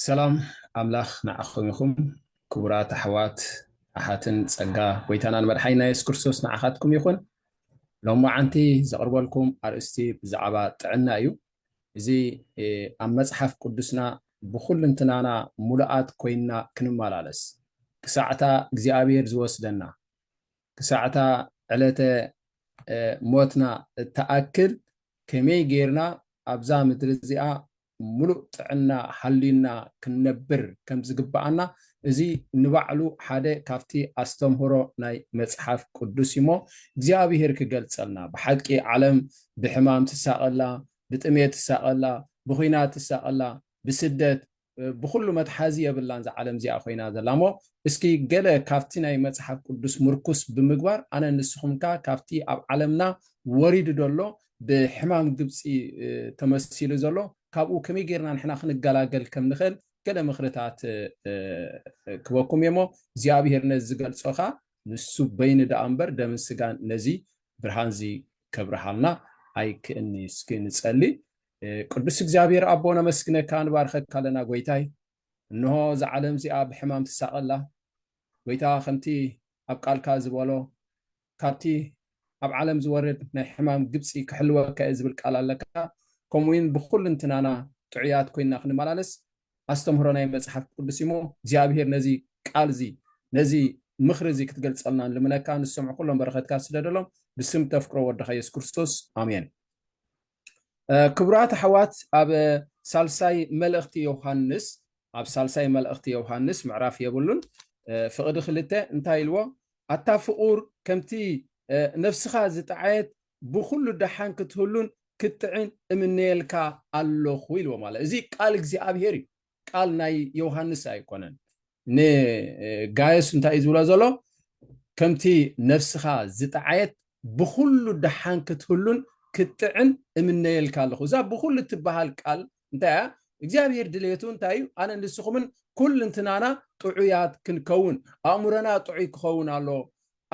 ሰላም ኣምላኽ ንዓኹም ይኹም ክቡራት ኣሕዋት ኣሓትን ጸጋ ጎይታናን መድሓይና የሱስ ክርስቶስ ንዓኻትኩም ይኹን ሎም መዓንቲ ዘቕርበልኩም ኣርእስቲ ብዛዕባ ጥዕና እዩ እዚ ኣብ መጽሓፍ ቅዱስና ብኩልንትናና ሙሉኣት ኮይንና ክንመላለስ ክሳዕታ እግዚኣብሔር ዝወስደና ክሳዕታ ዕለተ ሞትና እትኣክል ከመይ ገይርና ኣብዛ ምድሪ እዚኣ ምሉእ ጥዕና ሃልዩና ክንነብር ከም ዝግብኣና እዚ ንባዕሉ ሓደ ካብቲ ኣስተምህሮ ናይ መጽሓፍ ቅዱስ እዩ እሞ እግዚኣብሄር ክገልጸልና ብሓቂ ዓለም ብሕማም ትሳቐላ ብጥሜት ትሳቐላ ብኹናት ትሳቐላ ብስደት ብኹሉ መትሓዚ የብላን እዛ ዓለም እዚኣ ኮይና ዘላ እሞ እስኪ ገለ ካብቲ ናይ መጽሓፍ ቅዱስ ምርኩስ ብምግባር ኣነ ንስኹም ከ ካብቲ ኣብ ዓለምና ወሪዱ ዘሎ ብሕማም ግብፂ ተመሲሉ ዘሎ ካብኡ ከመይ ጌርና ንሕና ክንገላገል ከም ንኽእል ገለ ምኽርታት ክበኩም እየ እሞ እግዚኣብሄር ነዚ ዝገልጾ ኸኣ ንሱ በይኑ ደኣ እምበር ደምን ስጋን ነዚ ብርሃን እዚ ከብርሃልና ኣይክእልኒ እስኪ ንጸሊ ቅዱስ እግዚኣብሔር ኣቦ ነመስግነካ ንባርከካ ኣለና ጎይታይ እንሆ እዛ ዓለም እዚኣ ብሕማም ትሳቐላ ጎይታ ከምቲ ኣብ ቃልካ ዝበሎ ካብቲ ኣብ ዓለም ዝወርድ ናይ ሕማም ግብፂ ክሕልወካ እየ ዝብል ቃል ኣለካ ከምኡ እውን ብኩልንትናና ጥዑያት ኮይና ክንመላለስ ኣስተምህሮ ናይ መፅሓፍ ቅዱስ እሞ እግዚኣብሔር ነዚ ቃል እዚ ነዚ ምኽሪ እዚ ክትገልፀልና ንልምነካ ንሰምዑ ኩሎም በረኸትካ ስደደሎም ብስም ተፍቅሮ ወድኻ የሱስ ክርስቶስ ኣሜን ክቡራት ኣሕዋት ኣብ ሳልሳይ መልእኽቲ ዮሃንስ ኣብ ሳልሳይ መልእኽቲ ዮሃንስ ምዕራፍ የብሉን ፍቕዲ ክልተ እንታይ ኢልዎ ኣታ ፍቑር ከምቲ ነፍስኻ ዝጠዓየት ብኩሉ ደሓን ክትህሉን ክትጥዕን እምነየልካ ኣለኹ ኢልዎ ማለት እዚ ቃል እግዚኣብሄር እዩ ቃል ናይ ዮውሃንስ ኣይኮነን ንጋዮስ እንታይ እዩ ዝብሎ ዘሎ ከምቲ ነፍስኻ ዝጠዓየት ብኩሉ ደሓን ክትህሉን ክትጥዕን እምነየልካ ኣለኹ እዛ ብኩሉ እትበሃል ቃል እንታይ እያ እግዚኣብሄር ድሌቱ እንታይ እዩ ኣነ ንስኹምን ኩልንትናና ጥዑያት ክንከውን ኣእምሮና ጥዑይ ክኸውን ኣሎ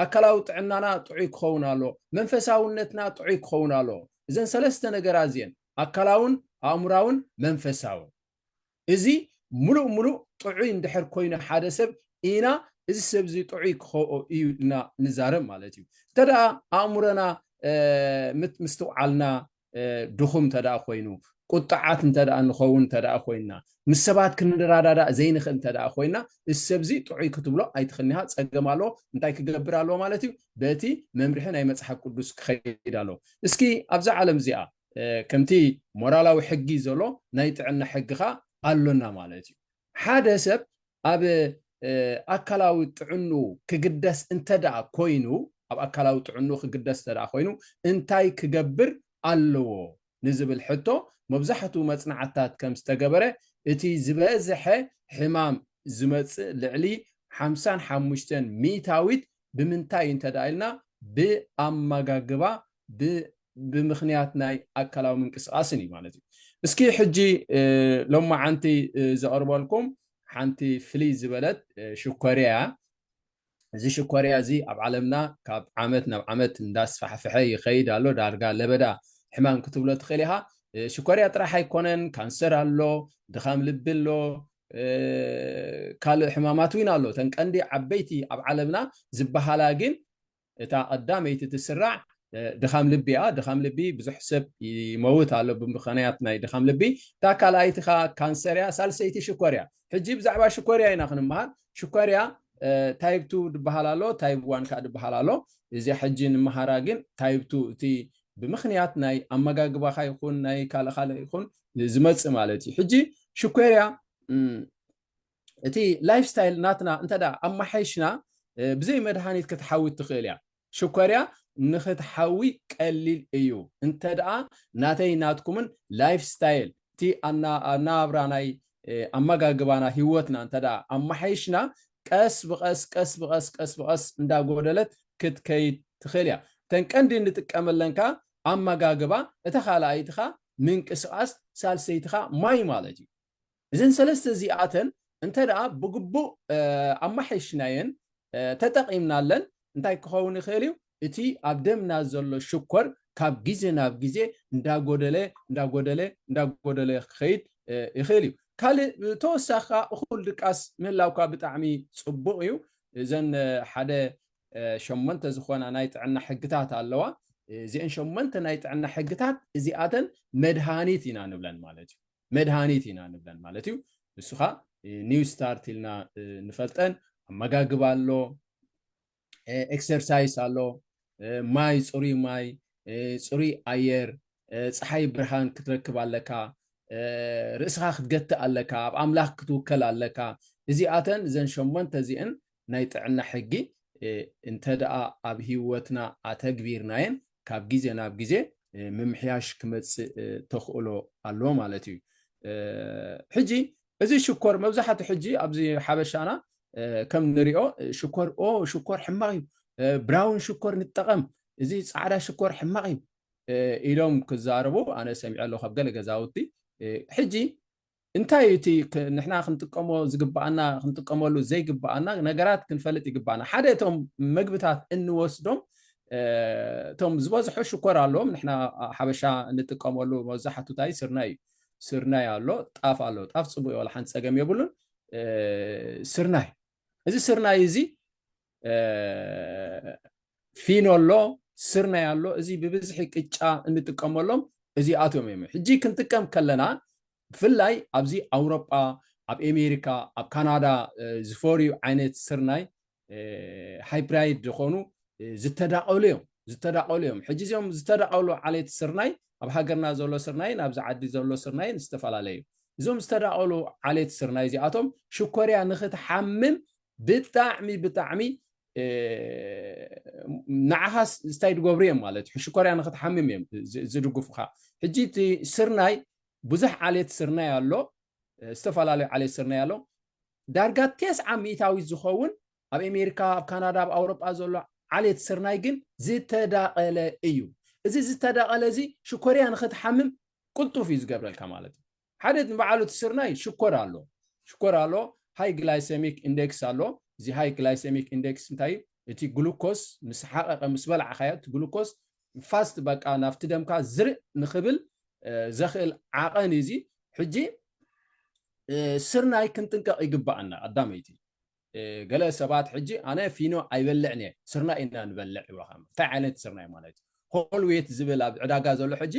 ኣካላዊ ጥዕናና ጥዑይ ክኸውን ኣሎ መንፈሳውነትና ጥዑይ ክኸውን ኣሎ እዘን ሰለስተ ነገራት እዚአን ኣካላውን ኣእምራውን መንፈሳውን እዚ ምሉእ ምሉእ ጥዑይ እንድሕር ኮይኑ ሓደ ሰብ ኢና እዚ ሰብ እዚ ጥዑይ ክኸኦ እዩ ኢልና ንዛረብ ማለት እዩ። እንተ ደኣ ኣእምሮና ምስትውዓልና ድኹም እንተ ደኣ ኮይኑ፣ ቁጥዓት እንተ ደኣ ንኸውን እንተ ደኣ ኮይንና፣ ምስ ሰባት ክንረዳዳእ ዘይንኽእል እንተ ደኣ ኮይንና፣ እዚ ሰብ እዚ ጥዑይ ክትብሎ ኣይትኽእልን ኢኻ፣ ጸገም ኣለዎ፣ እንታይ ክገብር ኣለዎ ማለት እዩ፣ በቲ መምርሒ ናይ መጽሓፍ ቅዱስ ክኸይድ ኣለዎ። እስኪ ኣብዛ ዓለም እዚኣ ከምቲ ሞራላዊ ሕጊ ዘሎ ናይ ጥዕና ሕጊ ኸኣ ኣሎና ማለት እዩ። ሓደ ሰብ ኣብ ኣካላዊ ጥዕንኡ ክግደስ እንተ ደኣ ኮይኑ ኣብ ኣካላዊ ጥዕንኡ ክግደስ እንተ ደኣ ኮይኑ እንታይ ክገብር ኣለዎ ንዝብል ሕቶ መብዛሕትኡ መጽናዕትታት ከም ዝተገበረ እቲ ዝበዝሐ ሕማም ዝመጽእ ልዕሊ ሓምሳን ሓሙሽተን ሚእታዊት ብምንታይ እንተ ኢልና ብኣማጋግባ ብምኽንያት ናይ ኣካላዊ ምንቅስቃስን እዩ ማለት እዩ እስኪ ሕጂ ሎማዓንቲ ዘቕርበልኩም ሓንቲ ፍልይ ዝበለት ሽኮርያ እያ እዚ ሽኮርያ እዚ ኣብ ዓለምና ካብ ዓመት ናብ ዓመት እንዳስፋሕፍሐ ይኸይድ ኣሎ ዳርጋ ለበዳ ሕማም ክትብሎ ትኽእል ኢኻ ሽኮርያ ጥራሕ ኣይኮነን ካንሰር ኣሎ ድኻም ልቢ ኣሎ ካልእ ሕማማት ውን ኣሎ እተን ቀንዲ ዓበይቲ ኣብ ዓለምና ዝበሃላ ግን እታ ቀዳመይቲ ትስራዕ ድኻም ልቢ እያ ድኻም ልቢ ብዙሕ ሰብ ይመውት ኣሎ ብምኽንያት ናይ ድኻም ልቢ እታ ካልኣይቲ ከ ካንሰር እያ ሳልሰይቲ ሽኮር እያ ሕጂ ብዛዕባ ሽኮር እያ ኢና ክንምሃር ሽኮር እያ ታይብ ቱ ዝበሃል ኣሎ ታይብ ዋን ከዓ ዝበሃል ኣሎ እዚኣ ሕጂ ንምሃራ ግን ታይብ ቱ እቲ ብምኽንያት ናይ ኣመጋግባኻ ይኹን ናይ ካልእ ካልእ ይኹን ዝመፅእ ማለት እዩ ሕጂ ሽኮርያ እቲ ላይፍ ስታይል ናትና እንተ ኣማሓይሽና ብዘይ መድሃኒት ክትሓዊ ትኽእል እያ ሽኮርያ ንክትሓዊ ቀሊል እዩ እንተ ደኣ ናተይ ናትኩምን ላይፍ ስታይል እቲ ኣናብራ ናይ ኣመጋግባና ሂወትና እንተ ኣማሓይሽና ቀስ ብቐስ ቀስ ብቐስ ቀስ ብቐስ እንዳጎደለት ክትከይድ ትኽእል እያ እተን ቀንዲ እንጥቀመለን ከዓ ኣመጋግባ፣ እታ ካልኣይትኻ ምንቅስቓስ፣ ሳልሰይትኻ ማይ ማለት እዩ። እዘን ሰለስተ እዚኣተን እንተ ደኣ ብግቡእ ኣማሓይሽናየን ተጠቒምናለን እንታይ ክኸውን ይኽእል እዩ? እቲ ኣብ ደምና ዘሎ ሽኮር ካብ ግዜ ናብ ግዜ እንዳጎደለ እንዳጎደለ እንዳጎደለ ክኸይድ ይኽእል እዩ። ካልእ ብተወሳኺ ከኣ እኹል ድቃስ ምህላውካ ብጣዕሚ ጽቡቕ እዩ። እዘን ሓደ ሸሞንተ ዝኾና ናይ ጥዕና ሕግታት ኣለዋ። እዚኤን ሸሞንተ ናይ ጥዕና ሕግታት እዚኣተን መድሃኒት ኢና ንብለን ማለት እዩ። መድሃኒት ኢና ንብለን ማለት እዩ። ንሱ ኸኣ ኒው ስታርት ኢልና ንፈልጠን ኣመጋግባ ኣሎ፣ ኤክሰርሳይስ ኣሎ፣ ማይ ፅሩይ ማይ፣ ፅሩይ ኣየር፣ ፀሓይ ብርሃን ክትረክብ ኣለካ፣ ርእስኻ ክትገትእ ኣለካ፣ ኣብ ኣምላኽ ክትውከል ኣለካ። እዚኣተን እዘን ሸሞንተ እዚኤን ናይ ጥዕና ሕጊ እንተድኣ ኣብ ህይወትና ኣተግቢርናየን ካብ ግዜ ናብ ግዜ ምምሕያሽ ክመጽእ ተኽእሎ ኣሎ ማለት እዩ። ሕጂ እዚ ሽኮር መብዛሕቱ ሕጂ ኣብዚ ሓበሻና ከም ንሪኦ ሽኮር ኦ ሽኮር ሕማቕ እዩ ብራውን ሽኮር ንጠቐም እዚ ጻዕዳ ሽኮር ሕማቕ እዩ ኢሎም ክዛረቡ ኣነ ሰሚዐ ኣለኹ ካብ ገለ ገዛውቲ ሕጂ እንታይ እዩ እቲ ንሕና ክንጥቀሞ ዝግባኣና ክንጥቀመሉ ዘይግባኣና ነገራት ክንፈልጥ ይግባኣና። ሓደ እቶም መግብታት እንወስዶም እቶም ዝበዝሑ ሽኮር ኣለዎም ንሕና ሓበሻ እንጥቀመሉ መብዛሕቱ ታይ ስርናይ እዩ። ስርናይ ኣሎ፣ ጣፍ ኣሎ። ጣፍ ፅቡቅ እዩ ዋላ ሓንቲ ፀገም የብሉን። ስርናይ እዚ ስርናይ እዚ ፊኖ ኣሎ ስርናይ ኣሎ እዚ ብብዝሒ ቅጫ እንጥቀመሎም እዚኣቶም እዮም ሕጂ ክንጥቀም ከለና ብፍላይ ኣብዚ ኣውሮጳ ኣብ ኣሜሪካ ኣብ ካናዳ ዝፈርዩ ዓይነት ስርናይ ሃይፕራይድ ዝኾኑ ዝተዳቐሉ እዮም ዝተዳቐሉ እዮም ሕጂ እዚኦም ዝተዳቐሉ ዓሌት ስርናይ ኣብ ሃገርና ዘሎ ስርናይን ኣብዚ ዓዲ ዘሎ ስርናይን ዝተፈላለዩ እዞም ዝተዳቐሉ ዓሌት ስርናይ እዚኣቶም ሽኮርያ ንክትሓምም ብጣዕሚ ብጣዕሚ ንዓኻ ስታይ ድገብሩ እዮም ማለት እዩ ሕሽኮርያ ንክትሓምም እዮም ዝድግፉኻ ሕጂ እቲ ስርናይ ብዙሕ ዓሌት ስርናይ ኣሎ ዝተፈላለዩ ዓሌት ስርናይ ኣሎ ዳርጋ ቴስዓ ሚእታዊት ዝኸውን ኣብ ኣሜሪካ ኣብ ካናዳ ኣብ ኣውሮጳ ዘሎ ዓሌት ስርናይ ግን ዝተዳቐለ እዩ እዚ ዝተዳቐለ እዚ ሽኮርያ ንክትሓምም ቅልጡፍ እዩ ዝገብረልካ ማለት እዩ ሓደ ንባዕሉ እቲ ስርናይ ሽኮር ኣሎ ሽኮር ኣሎ ሃይ ግላይሰሚክ ኢንደክስ ኣሎ እዚ ሃይ ግላይሰሚክ ኢንደክስ እንታይ እዩ እቲ ግሉኮስ ምስ ሓቐቐ ምስ በላዕኻዮ እቲ ግሉኮስ ፋስት በቃ ናብቲ ደምካ ዝርእ ንኽብል ዘኽእል ዓቐን እዩ እዚ ሕጂ ስርናይ ክንጥንቀቕ ይግባኣና ኣዳመይቲ ገለ ሰባት ሕጂ ኣነ ፊኖ ኣይበልዕን እየ ስርናይ ኢና ንበልዕ ይብለካ እንታይ ዓይነት ስርናይ ማለት እዩ ሆልዌት ዝብል ኣብ ዕዳጋ ዘሎ ሕጂ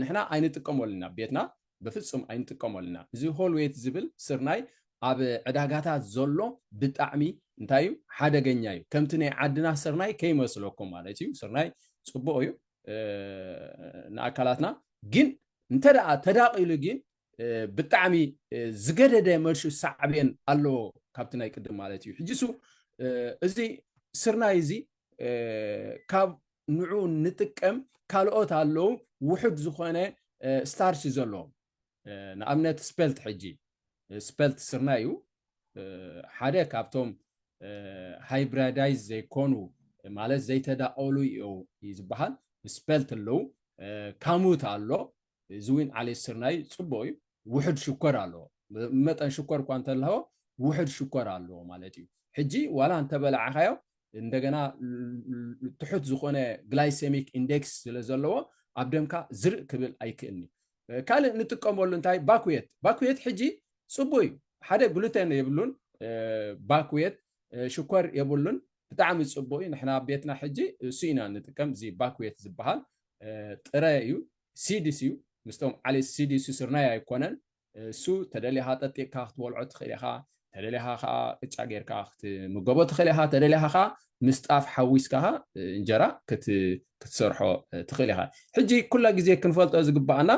ንሕና ኣይንጥቀመሉን ኣብ ቤትና በፍጹም ኣይንጥቀመሉ ኢና እዚ ሆልዌት ዝብል ስርናይ ኣብ ዕዳጋታት ዘሎ ብጣዕሚ እንታይ እዩ ሓደገኛ እዩ ከምቲ ናይ ዓድና ስርናይ ከይመስለኩም ማለት እዩ ስርናይ ፅቡቅ እዩ ንኣካላትና ግን እንተ ደኣ ተዳቂሉ ግን ብጣዕሚ ዝገደደ መልሹ ሳዕቤን ኣለዎ ካብቲ ናይ ቅድም ማለት እዩ ሕጂ ሱ እዚ ስርናይ እዚ ካብ ንዑ ንጥቀም ካልኦት ኣለዉ ውሑድ ዝኾነ ስታርች ዘለዎም ንኣብነት ስፐልት ሕጂ ስፐልት ስርና እዩ ሓደ ካብቶም ሃይብራዳይዝ ዘይኮኑ ማለት ዘይተዳቀሉ እዩ ዝበሃል ስፐልት ኣለዉ ካሙት ኣሎ እዚ ዊን ዓሌት ስርናይ ፅቡቅ እዩ ውሕድ ሽኮር ኣለዎ መጠን ሽኮር እኳ እንተለዎ ውሕድ ሽኮር ኣለዎ ማለት እዩ ሕጂ ዋላ እንተበላዕኻዮ እንደገና ትሑት ዝኾነ ግላይሴሚክ ኢንዴክስ ስለ ዘለዎ ኣብ ደምካ ዝርእ ክብል ኣይክእልኒ ካልእ ንጥቀመሉ እንታይ ባኩየት ባኩየት ሕጂ ፅቡ እዩ ሓደ ግሉተን የብሉን ባኩየት ሽኮር የብሉን ብጣዕሚ ፅቡቅ እዩ ንሕና ቤትና ሕጂ እሱ ኢና ንጥቀም እዚ ባኩየት ዝበሃል ጥረ እዩ ሲድስ እዩ ምስቶም ዓሌት ሲድስ ስርናይ ኣይኮነን እሱ ተደሊኻ ጠጢቕካ ክትበልዖ ትኽእል ኢኻ ተደሊኻ ከዓ ቅጫ ጌርካ ክትምገቦ ትኽእል ኢኻ ተደሊኻ ከዓ ምስ ጣፍ ሓዊስካ ከዓ እንጀራ ክትሰርሖ ትኽእል ኢኻ ሕጂ ኩላ ግዜ ክንፈልጦ ዝግባኣና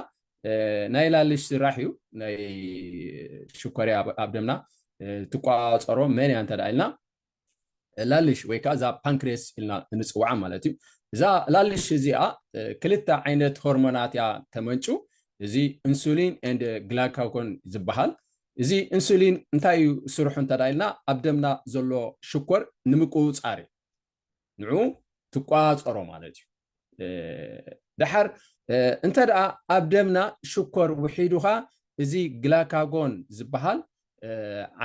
ናይ ላልሽ ስራሕ እዩ ናይ ሽኮርያ ኣብ ደምና ትቋፀሮ መን እያ እንተ ኢልና ላልሽ ወይ ከኣ እዛ ፓንክሬስ ኢልና እንጽውዓ ማለት እዩ። እዛ ላልሽ እዚኣ ክልተ ዓይነት ሆርሞናት እያ ተመንጩ፣ እዚ ኢንሱሊን ኤንድ ግላካጎን ዝበሃል። እዚ ኢንሱሊን እንታይ እዩ ስርሑ እንተ ኢልና ኣብ ደምና ዘሎ ሽኮር ንምቁጽጻር እዩ። ንዑ ትቆጻጸሮ ማለት እዩ። ደሓር እንተ ኣብ ደምና ሽኮር ውሒዱኻ እዚ ግላካጎን ዝበሃል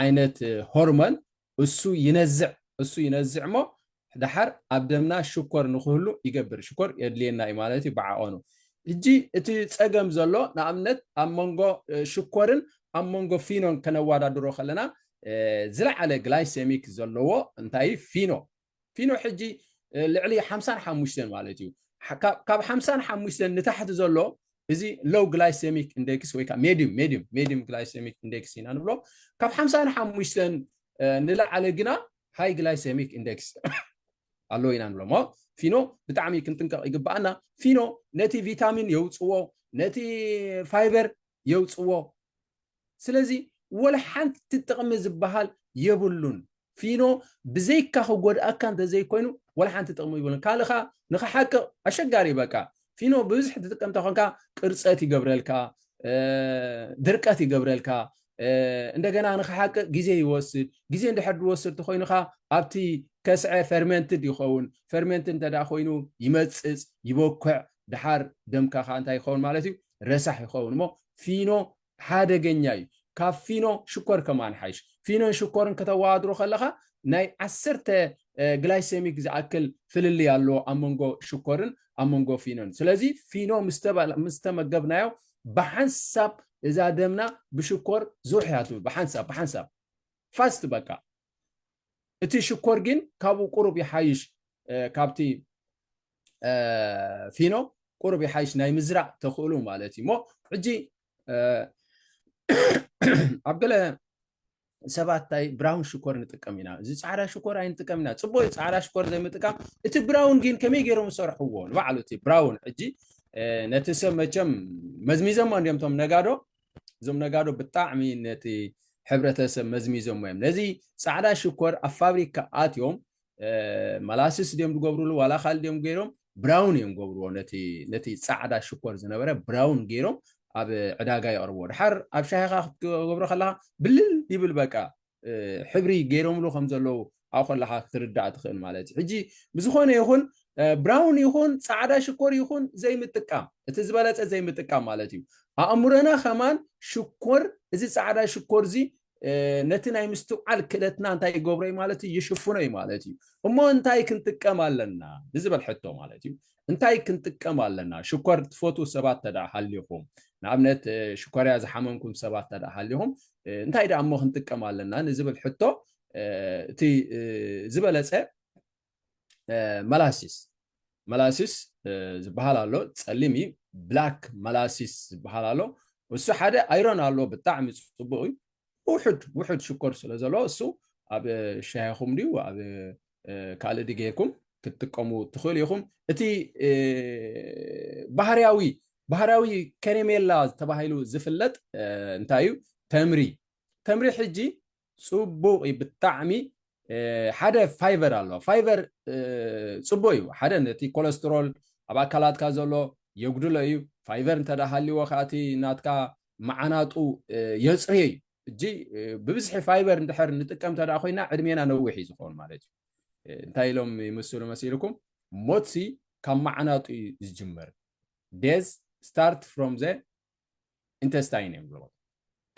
ዓይነት ሆርሞን እሱ ይነዝዕ እሱ ይነዝዕ እሞ ዳሓር ኣብ ደምና ሽኮር ንክህሉ ይገብር ሽኮር የድልየና እዩ ማለት እዩ ብዓቐኑ ሕጂ እቲ ጸገም ዘሎ ንኣብነት ኣብ መንጎ ሽኮርን ኣብ መንጎ ፊኖን ከነዋዳድሮ ከለና ዝለዓለ ግላይሰሚክ ዘለዎ እንታይ ፊኖ ፊኖ ሕጂ ልዕሊ ሓምሳን ሓሙሽተን ማለት እዩ ካብ ሓምሳን ሓሙሽተን ንታሕቲ ዘሎ እዚ ሎው ግላይሴሚክ ኢንደክስ ወይ ከዓ ሜድዩም ሜድዩም ሜድዩም ግላይሴሚክ ኢንደክስ ኢና ንብሎ ካብ ሓምሳ ንሓሙሽተን ንላዕለ ግና ሃይ ግላይሴሚክ ኢንደክስ ኣሎ ኢና ንብሎ እሞ ፊኖ ብጣዕሚ ክንጥንቀቕ ይግባኣና ፊኖ ነቲ ቪታሚን የውፅዎ ነቲ ፋይበር የውፅዎ ስለዚ ወላ ሓንቲ ጥቕሚ ዝበሃል የብሉን። ፊኖ ብዘይካ ክጎድኣካ እንተዘይኮይኑ ወላ ሓንቲ ጥቕሚ ይብሉን። ካልእ ከኣ ንኽሓቅቕ ኣሸጋሪ እዩ በቃ። ፊኖ ብብዝሒ ትጥቀም እንተኾንካ ቅርጸት ይገብረልካ፣ ድርቀት ይገብረልካ፣ እንደገና ንኽሓቅቕ ግዜ ይወስድ። ግዜ እንድሕር ዝወስድ ተኾይኑ ከኣ ኣብቲ ከስዐ ፈርመንትድ ይኸውን። ፈርመንትድ እንተ ኮይኑ ይመጽጽ፣ ይበኩዕ፣ ደሓር ደምካ ከኣ እንታይ ይኸውን ማለት እዩ ረሳሕ ይኸውን እሞ ፊኖ ሓደገኛ እዩ ካብ ፊኖ ሽኮር ከማን ሓይሽ ፊኖን ሽኮርን ከተወዳድሮ ከለኻ ናይ ዓሰርተ ግላይሴሚክ ዝኣክል ፍልልይ ኣሎ ኣብ መንጎ ሽኮርን ኣብ መንጎ ፊኖን ስለዚ ፊኖ ምስ ተመገብናዮ ብሓንሳብ እዛ ደምና ብሽኮር ዙሕ እያ ትብል ብሓንሳብ ብሓንሳብ ፋስት በቃ እቲ ሽኮር ግን ካብኡ ቁሩብ ይሓይሽ ካብቲ ፊኖ ቁሩብ ይሓይሽ ናይ ምዝራእ ተኽእሉ ማለት እዩ እሞ ሕጂ ኣብ ገለ ሰባት እንታይ ብራውን ሽኮር ንጥቀም ኢና እዚ ፃዕዳ ሽኮር ኣይንጥቀም ኢና ፅቡቅ እዩ ፃዕዳ ሽኮር ዘይምጥቃም እቲ ብራውን ግን ከመይ ገይሮም ዝሰርሕዎ ንባዕሉ እቲ ብራውን ሕጂ ነቲ ሰብ መቸም መዝሚዘሞ እንዲዮም እቶም ነጋዶ እዞም ነጋዶ ብጣዕሚ ነቲ ሕብረተሰብ መዝሚዞሞ እዮም ነዚ ፃዕዳ ሽኮር ኣብ ፋብሪካ ኣትዮም መላስስ ድዮም ዝገብርሉ ዋላ ካልእ ድዮም ገይሮም ብራውን እዮም ገብርዎ ነቲ ፃዕዳ ሽኮር ዝነበረ ብራውን ገይሮም ኣብ ዕዳጋ የቕርብዎ ድሓር ኣብ ሻሂኻ ክትገብሮ ከለኻ ብልል ይብል በቃ ሕብሪ ገይሮምሉ ከም ዘለዉ ኣብ ከለካ ክትርዳእ ትኽእል ማለት እዩ ሕጂ ብዝኾነ ይኹን ብራውን ይኹን ጻዕዳ ሽኮር ይኹን ዘይምጥቃም እቲ ዝበለጸ ዘይምጥቃም ማለት እዩ ኣእምሮና ከማን ሽኮር እዚ ጻዕዳ ሽኮር እዚ ነቲ ናይ ምስትውዓል ክእለትና እንታይ ይገብሮ ማለት እዩ ይሽፍኖ እዩ ማለት እዩ እሞ እንታይ ክንጥቀም ኣለና ንዝበል ሕቶ ማለት እዩ እንታይ ክንጥቀም ኣለና? ሽኮር ትፈትዉ ሰባት ተደኣ ሃሊኹም፣ ንኣብነት ሽኮርያ ዝሓመምኩም ሰባት ተደኣ ሃሊኹም፣ እንታይ ደኣ እሞ ክንጥቀም ኣለና ንዝብል ሕቶ እቲ ዝበለጸ መላሲስ መላሲስ ዝበሃል ኣሎ ጸሊም እዩ ብላክ መላሲስ ዝበሃል ኣሎ እሱ ሓደ ኣይሮን ኣሎ ብጣዕሚ ጽቡቅ እዩ ውሑድ ውሑድ ሽኮር ስለ ዘለዎ እሱ ኣብ ሻሂኹም ድዩ ኣብ ካልእ ዲ ጌርኩም ክትጥቀሙ ትኽእሉ ኢኹም እቲ ባህርያዊ ባህርያዊ ከሬሜላ ተባሂሉ ዝፍለጥ እንታይ እዩ ተምሪ ተምሪ ሕጂ ፅቡቕ እዩ ብጣዕሚ ሓደ ፋይቨር ኣሎ ፋይቨር ፅቡቅ እዩ ሓደ ነቲ ኮለስትሮል ኣብ ኣካላትካ ዘሎ የጉድሎ እዩ ፋይቨር እንተዳሃልዎ ከዓ እቲ ናትካ መዓናጡ የፅርዮ እዩ እጂ ብብዝሒ ፋይበር እንድሕር ንጥቀም ተደኣ ኮይና ዕድሜና ነዊሕ እዩ ዝኸውን ማለት እዩ እንታይ ኢሎም ይምስሉ መሲልኩም ሞትሲ ካብ መዓናጡ እዩ ዝጅምር ዴዝ ስታርት ፍሮም ዘ ኢንተስታይን እዮም ዝበልዎ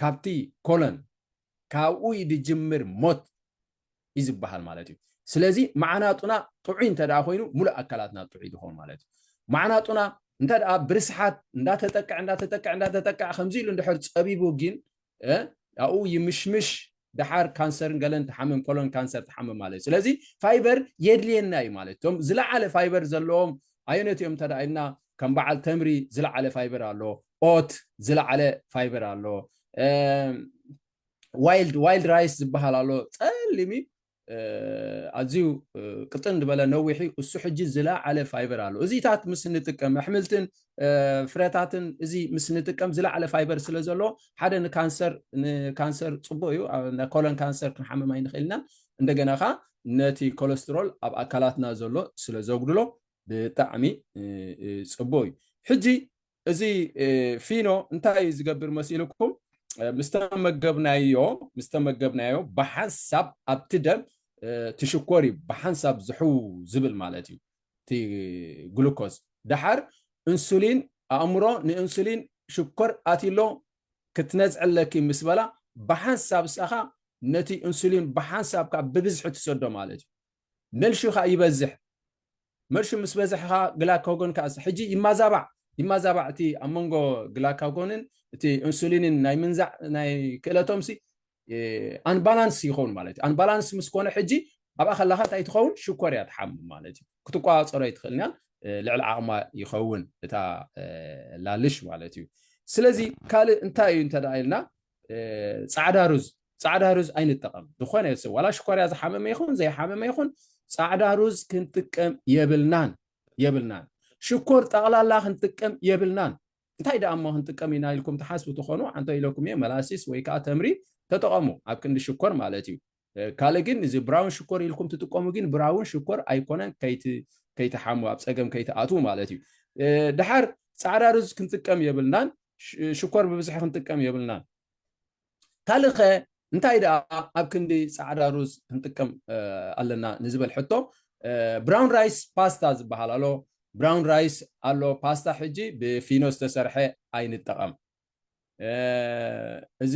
ካብቲ ኮለን ካብኡ እዩ ዝጅምር ሞት እዩ ዝበሃል ማለት እዩ ስለዚ መዓናጡና ጥዑይ እንተ ኮይኑ ሙሉእ ኣካላትና ጥዑይ ዝኸውን ማለት እዩ መዓናጡና እንተ ብርስሓት እንዳተጠቅዕ እንዳተጠቅዕ እንዳተጠቅዕ ከምዚ ኢሉ እንድሕር ፀቢቡ ግን ኣብኡ ይምሽምሽ ደሓር ካንሰርን ገለን ትሓምም ኮሎን ካንሰር ትሓምም ማለት ስለዚ ፋይበር የድልየና እዩ ማለት እቶም ዝለዓለ ፋይበር ዘለዎም ኣየነት እዮም እንተ ኢልና ከም በዓል ተምሪ ዝለዓለ ፋይበር ኣሎ ኦት ዝለዓለ ፋይበር ኣሎ ዋይልድ ዋይልድ ራይስ ዝበሃል ኣሎ ፀሊም እዩ ኣዝዩ ቅጥን ዝበለ ነዊሕ እዩ እሱ ሕጂ ዝለዓለ ፋይበር ኣሎ እዚታት ምስ ንጥቀም ኣሕምልትን ፍረታትን እዚ ምስ ንጥቀም ዝለዓለ ፋይበር ስለ ዘሎ ሓደ ንካንሰር ንካንሰር ፅቡቅ እዩ ኮለን ካንሰር ክንሓምም ኣይንኽእል ኢና እንደገና ኸ ነቲ ኮለስትሮል ኣብ ኣካላትና ዘሎ ስለ ዘጉድሎ ብጣዕሚ ፅቡቅ እዩ ሕጂ እዚ ፊኖ እንታይ እዩ ዝገብር መሲልኩም ምስተመገብናዮ ምስተመገብናዮ ብሓንሳብ ኣብቲ ደም ትሽኮር እዩ ብሓንሳብ ዝሕው ዝብል ማለት እዩ እቲ ግሉኮዝ ደሓር እንሱሊን ኣእምሮ ንእንሱሊን ሽኮር ኣትሎ ክትነዝዕለኪ ምስ በላ ብሓንሳብ ሰኻ ነቲ እንሱሊን ብሓንሳብ ካብ ብብዝሒ ትሰዶ ማለት እዩ መልሹ ከኣ ይበዝሕ መልሹ ምስ በዝሐ ከኣ ግላካጎን ከኣ ሕጂ ይማዛባዕ ይማዛባዕ እቲ ኣብ መንጎ ግላካጎንን እቲ ኢንሱሊንን ናይ ምንዛዕ ናይ ክእለቶምሲ ኣንባላንስ ይኸውን ማለት እዩ ኣንባላንስ ምስ ኮነ ሕጂ ኣብኣ ከለካ እንታይ ትኸውን ሽኮር እያ ትሓምም ማለት እዩ ክትቆፃፀሮ ኣይትኽእልንያን ልዕሊ ዓቕማ ይኸውን እታ ላልሽ ማለት እዩ ስለዚ ካልእ እንታይ እዩ እንተ ኢልና ፃዕዳ ሩዝ ጻዕዳ ሩዝ ኣይንጠቐም ዝኾነ ሰብ ዋላ ሽኮርያ ዝሓመመ ይኹን ዘይሓመመ ይኹን ጻዕዳ ሩዝ ክንጥቀም የብልናን የብልናን ሽኮር ጠቕላላ ክንጥቀም የብልናን እንታይ ደኣ እሞ ክንጥቀም ኢና ኢልኩም ትሓስቡ ትኾኑ ኣንተ ኢለኩም እየ መላሲስ ወይ ከዓ ተምሪ ተጠቐሙ ኣብ ክንዲ ሽኮር ማለት እዩ ካልእ ግን እዚ ብራውን ሽኮር ኢልኩም ትጥቀሙ ግን ብራውን ሽኮር ኣይኮነን ከይትሓሙ ኣብ ፀገም ከይትኣትዉ ማለት እዩ ድሓር ፃዕዳ ሩዝ ክንጥቀም የብልናን ሽኮር ብብዝሒ ክንጥቀም የብልናን ካልእ ከ እንታይ ደኣ ኣብ ክንዲ ጻዕዳ ሩዝ ክንጥቀም ኣለና ንዝበል ሕቶ ብራውን ራይስ ፓስታ ዝበሃል ኣሎ ብራውን ራይስ ኣሎ ፓስታ ሕጂ ብፊኖ ዝተሰርሐ ኣይንጠቐም እዚ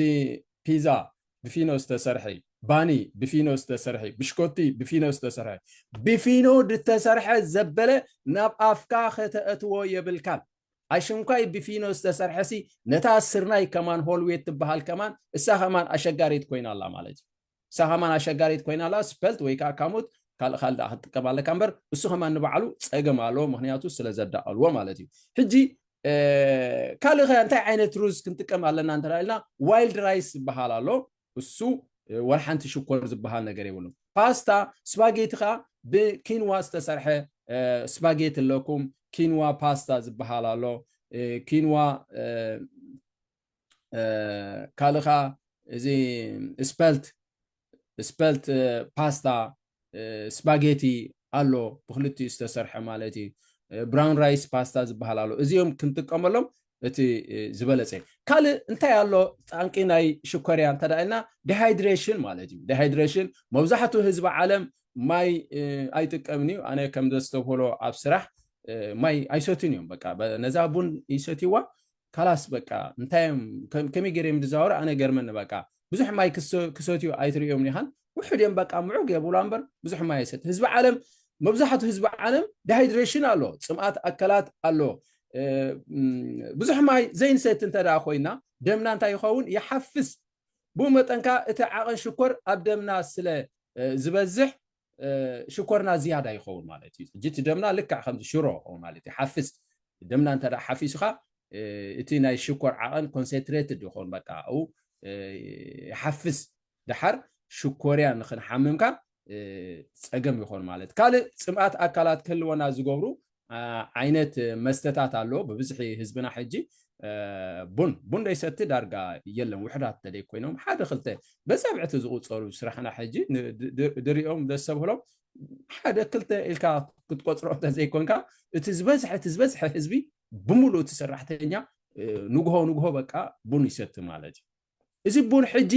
ፒዛ ብፊኖ ዝተሰርሐ ባኒ ብፊኖ ዝተሰርሐ ብሽኮቲ ብፊኖ ዝተሰርሐ ብፊኖ ዝተሰርሐ ዘበለ ናብ ኣፍካ ከተእትዎ የብልካን ኣሽንኳይ ብፊኖ ዝተሰርሐሲ ነታ ስርናይ ከማን ሆልዌት ትበሃል ከማን እሳ ከማን ኣሸጋሪት ኮይና ኣላ ማለት እዩ እሳ ከማን ኣሸጋሪት ኮይና ኣላ ስፐልት ወይ ከዓ ካሙት ካልእ ካልእ ደኣ ክትጥቀም ኣለካ እምበር እሱ ከማን ንባዕሉ ፀገም ኣለዎ ምክንያቱ ስለ ዘዳቐልዎ ማለት እዩ ሕጂ ካልእ ከ እንታይ ዓይነት ሩዝ ክንጥቀም ኣለና እንተ ኢልና ዋይልድ ራይስ ዝበሃል ኣሎ እሱ ወልሓንቲ ሽኮር ዝበሃል ነገር የብሉም ፓስታ ስፓጌቲ ከኣ ብኪንዋ ዝተሰርሐ ስፓጌቲ ኣለኩም ኪንዋ ፓስታ ዝበሃል ኣሎ ኪንዋ ካልእ ከኣ እዚ ስፐልት ስፐልት ፓስታ ስፓጌቲ ኣሎ ብክልቲኡ ዝተሰርሐ ማለት እዩ ብራውን ራይስ ፓስታ ዝበሃል ኣሎ እዚኦም ክንጥቀመሎም እቲ ዝበለፀ እዩ ካልእ እንታይ ኣሎ ጣንቂ ናይ ሽኮርያ እንተ ኢልና ዲሃይድሬሽን ማለት እዩ ዲሃይድሬሽን መብዛሕትኡ ህዝቢ ዓለም ማይ ኣይጥቀምን እዩ ኣነ ከም ዘስተብህሎ ኣብ ስራሕ ማይ ኣይሰትን እዮም በቃ ነዛ ቡን ይሰትይዋ ካላስ በቃ እንታይ እዮም ከመይ ገይረ ዝዛወሩ ኣነ ገርመኒ በቃ ብዙሕ ማይ ክሰትዩ ኣይትርእዮም ኒኻን ውሕድ እዮም በቃ ምዑግ የብሉ እምበር ብዙሕ ማይ ይሰት ህዝቢ ዓለም መብዛሕትኡ ህዝቢ ዓለም ዳሃይድሬሽን ኣሎ ፅምኣት ኣካላት ኣሎ ብዙሕ ማይ ዘይንሰት እንተ ኮይና ደምና እንታይ ይኸውን ይሓፍስ ብኡ መጠንካ እቲ ዓቐን ሽኮር ኣብ ደምና ስለ ዝበዝሕ ሽኮርና ዝያዳ ይኸውን ማለት እዩ ሕጂ እቲ ደምና ልክዕ ከምዚ ሽሮ ማለት እዩ ሓፍስ ደምና እንተ ሓፊሱካ እቲ ናይ ሽኮር ዓቐን ኮንሰንትሬትድ ይኸውን በቃ ኣብኡ ይሓፍስ ድሓር ሽኮርያ ንክንሓምምካ ፀገም ይኾን ማለት ካልእ ፅምኣት ኣካላት ክህልወና ዝገብሩ ዓይነት መስተታት ኣሎ ብብዝሒ ህዝብና ሕጂ ቡን ቡን ዘይሰቲ ዳርጋ የለን ውሕዳት ተደይ ኮይኖም ሓደ ክልተ በፀብዕቲ ዝቁፀሩ ስራሕና ሕጂ ድሪኦም ደስ ሰብህሎም ሓደ ክልተ ኢልካ ክትቆፅሮ እንተዘይኮንካ እቲ ዝበዝሐ እቲ ዝበዝሐ ህዝቢ ብምሉእ እቲ ሰራሕተኛ ንግሆ ንግሆ በቃ ቡን ይሰቲ ማለት እዩ እዚ ቡን ሕጂ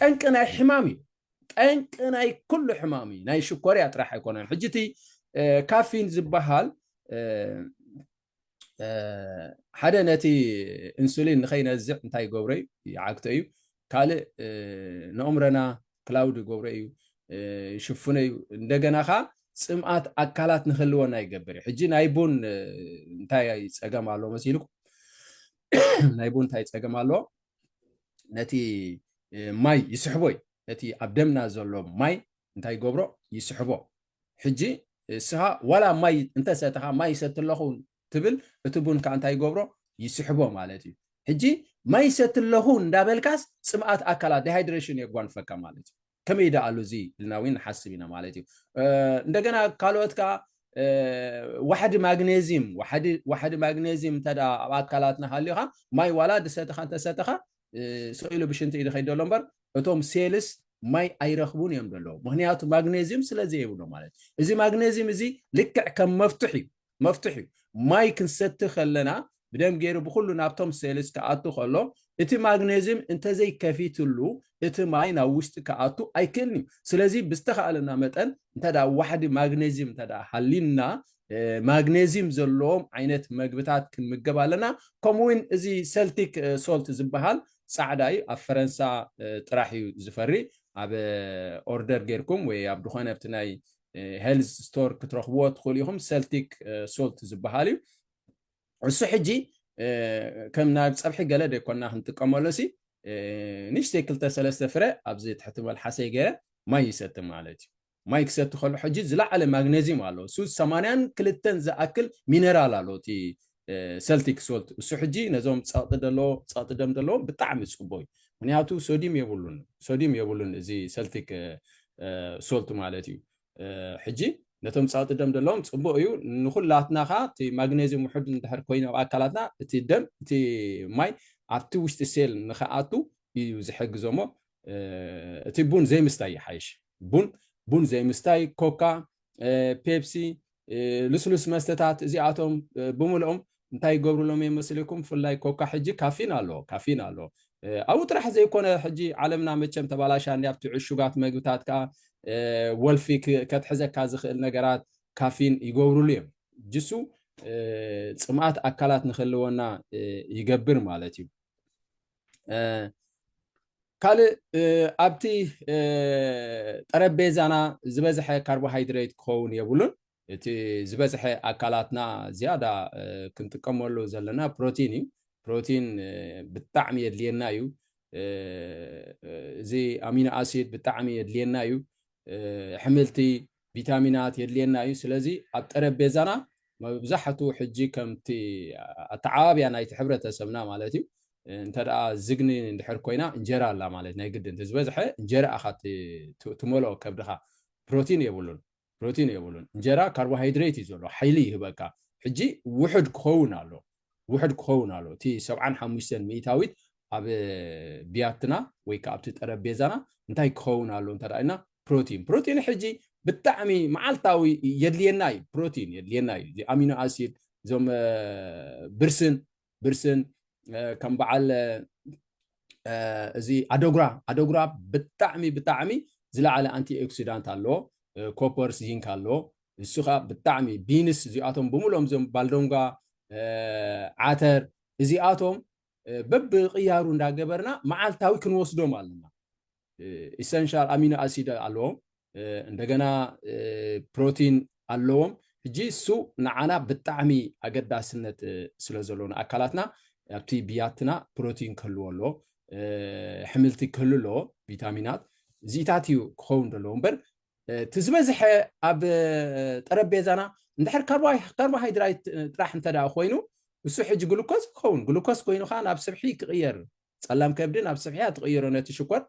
ጠንቂ ናይ ሕማም እዩ ጠንቂ ናይ ኩሉ ሕማም እዩ ናይ ሽኮርያ ጥራሕ ኣይኮነን ሕጂ እቲ ካፊን ዝበሃል ሓደ ነቲ ኢንሱሊን ንኸይነዝዕ እንታይ ይገብሮ እዩ ይዓግቶ እዩ ካልእ ንኦምረና ክላውድ ይገብሮ እዩ ይሽፍኖ እዩ እንደገና ኸ ፅምኣት ኣካላት ንክህልወና ይገብር እዩ ሕጂ ናይ ቡን እንታይ ፀገም ኣለዎ መሲልኩም ናይ ቡን እንታይ ፀገም ኣለዎ ነቲ ማይ ይስሕቦ እዩ ነቲ ኣብ ደምና ዘሎ ማይ እንታይ ይገብሮ ይስሕቦ ሕጂ እስኻ ዋላ ማይ እንተሰተኻ ማይ ይሰቲ ኣለኹ ትብል እቲ ቡን ከዓ እንታይ ይገብሮ ይስሕቦ ማለት እዩ ሕጂ ማይ ይሰቲ ኣለኹ እንዳበልካስ ፅምኣት ኣካላት ዲሃይድሬሽን የጓንፈካ ማለት እዩ ከመይ ደኣ ኣሉ እዚ ኢልና ውን ንሓስብ ኢና ማለት እዩ። እንደገና ካልኦት ከኣ ዋሕዲ ማግኔዚም ዋሕዲ ማግኔዚም እንተ ኣብ ኣካላትና ሃልዩካ ማይ ዋላ ድሰተኻ እንተሰተኻ ሰኢሉ ብሽንቲ እዩ ዝኸይድ ዘሎ እምበር እቶም ሴልስ ማይ ኣይረኽቡን እዮም ዘለዉ ምክንያቱ ማግኔዚም ስለ ዘይብሎም ማለት እዩ። እዚ ማግኔዚም እዚ ልክዕ ከም መፍቱሕ እዩ መፍትሕ እዩ ማይ ክንሰቲ ከለና ብደም ገይሩ ብኩሉ ናብቶም ሴልስ ክኣቱ ከሎ እቲ ማግኔዝም እንተዘይ ከፊትሉ እቲ ማይ ናብ ውሽጢ ክኣቱ ኣይክእልን እዩ ስለዚ ብዝተካእለና መጠን እንተ ዋሕዲ ማግኔዝም እንተ ሃሊና ማግኔዝም ዘለዎም ዓይነት መግብታት ክንምገብ ኣለና ከምኡ ውን እዚ ሰልቲክ ሶልት ዝበሃል ጻዕዳ እዩ ኣብ ፈረንሳ ጥራሕ እዩ ዝፈሪ ኣብ ኦርደር ጌርኩም ወይ ኣብ ድኾነ ኣብቲ ናይ ሄልዝ ስቶር ክትረኽብዎ ትኽእሉ ኢኹም ሰልቲክ ሶልት ዝበሃል እዩ እሱ ሕጂ ከም ናብ ፀብሒ ገለ ደይኮና ክንጥቀመሉ ሲ ንሽተይ ክልተ ሰለስተ ፍረ ኣብዚ ትሕቲ መልሓሰይ ገይረ ማይ ይሰቲ ማለት እዩ ማይ ክሰቲ ከሎ ሕጂ ዝለዓለ ማግነዚም ኣለዎ እሱ ሰማንያን ክልተን ዝኣክል ሚነራል ኣለዎ እቲ ሰልቲክ ሶልት እሱ ሕጂ ነዞም ጸቕጢ ደሎ ጸቕጢ ደም ደለዎም ብጣዕሚ ጽቡቕ እዩ ምክንያቱ ሶዲም የብሉን ሶዲም የብሉን እዚ ሰልቲክ ሶልት ማለት እዩ ሕጂ ነቶም ጸቕጢ ደም ደለዎም ጽቡቕ እዩ ንኩላትና ኸ እቲ ማግኔዝም ውሕድ እንድሕር ኮይኑ ኣብ ኣካላትና እቲ ደም እቲ ማይ ኣብቲ ውሽጢ ሴል ንኸኣቱ እዩ ዝሕግዞ እሞ እቲ ቡን ዘይምስታይ ይሓይሽ ቡን ቡን ዘይምስታይ ኮካ ፔፕሲ ልስሉስ መስተታት እዚኣቶም ብምልኦም እንታይ ይገብርሎም እዮም መስልኩም ብፍላይ ኮካ ሕጂ ካፊን ኣሎ ካፊን ኣሎ ኣብኡ ጥራሕ ዘይኮነ ሕጂ ዓለምና መቸም ተባላሻ እኒ ኣብቲ ዕሹጋት መግብታት ከዓ ወልፊ ከትሕዘካ ዝኽእል ነገራት ካፊን ይገብርሉ እዮም ጅሱ ፅምኣት ኣካላት ንክህልወና ይገብር ማለት እዩ ካልእ ኣብቲ ጠረጴዛና ዝበዝሐ ካርቦሃይድሬት ክኸውን የብሉን እቲ ዝበዝሐ ኣካላትና ዝያዳ ክንጥቀመሉ ዘለና ፕሮቲን እዩ ፕሮቲን ብጣዕሚ የድልየና እዩ እዚ ኣሚኖ ኣሲድ ብጣዕሚ የድልየና እዩ ሕምልቲ ቪታሚናት የድልየና እዩ ስለዚ ኣብ ጠረጴዛና መብዛሕቱ ሕጂ ከምቲ ኣተዓባብያ ናይቲ ሕብረተሰብና ማለት እዩ እንተ ዝግኒ እንድሕር ኮይና እንጀራ ኣላ ማለት ናይ ግድን ተዝበዝሐ እንጀራ ኣኻ ትመልኦ ከብድኻ ፕሮቲን የብሉን ፕሮቲን የብሉን እንጀራ ካርቦሃይድሬት እዩ ዘሎ ሓይሊ ይህበካ ሕጂ ውሕድ ክኸውን ኣሎ ውሕድ ክኸውን ኣለዎ። እቲ ሰብዓን ሓሙሽተን ሚኢታዊት ኣብ ብያትና ወይ ከኣ ኣብቲ ጠረጴዛና እንታይ ክኸውን ኣለዎ እንተ ኢልና ፕሮቲን ፕሮቲን ሕጂ ብጣዕሚ መዓልታዊ የድልየና እዩ ፕሮቲን የድልየና እዩ እዚ ኣሚኖ ኣሲድ እዞም ብርስን ብርስን ከም በዓል እዚ ኣደጉራ ኣደጉራ ብጣዕሚ ብጣዕሚ ዝለዓለ ኣንቲ ኦክሲዳንት ኣለዎ ኮፐርስ ዚንክ ኣለዎ ንሱ ከኣ ብጣዕሚ ቢንስ እዚኣቶም ብምልኦም እዞም ባልዶንጓ ዓተር እዚኣቶም በብቕያሩ እንዳገበርና መዓልታዊ ክንወስዶም ኣለና። ኢሰንሻል ኣሚኖ ኣሲድ ኣለዎም፣ እንደገና ፕሮቲን ኣለዎም። ሕጂ እሱ ንዓና ብጣዕሚ ኣገዳስነት ስለ ዘሎ ንኣካላትና ኣብቲ ብያትና ፕሮቲን ክህልዎ ኣለዎ፣ ሕምልቲ ክህሉ ኣለዎ፣ ቪታሚናት እዚታት እዩ ክኸውን ዘለዎ እምበር እቲ ዝበዝሐ ኣብ ጠረጴዛና እንድሕር ካርቦሃይድራይት ጥራሕ እንተ ኮይኑ ንሱ ሕጂ ግሉኮስ ይኸውን ግሉኮስ ኮይኑ ከዓ ናብ ስብሒ ክቕየር ጸላም ከብዲ ናብ ስብሒ እያ ትቕይሮ ነቲ ሽኮር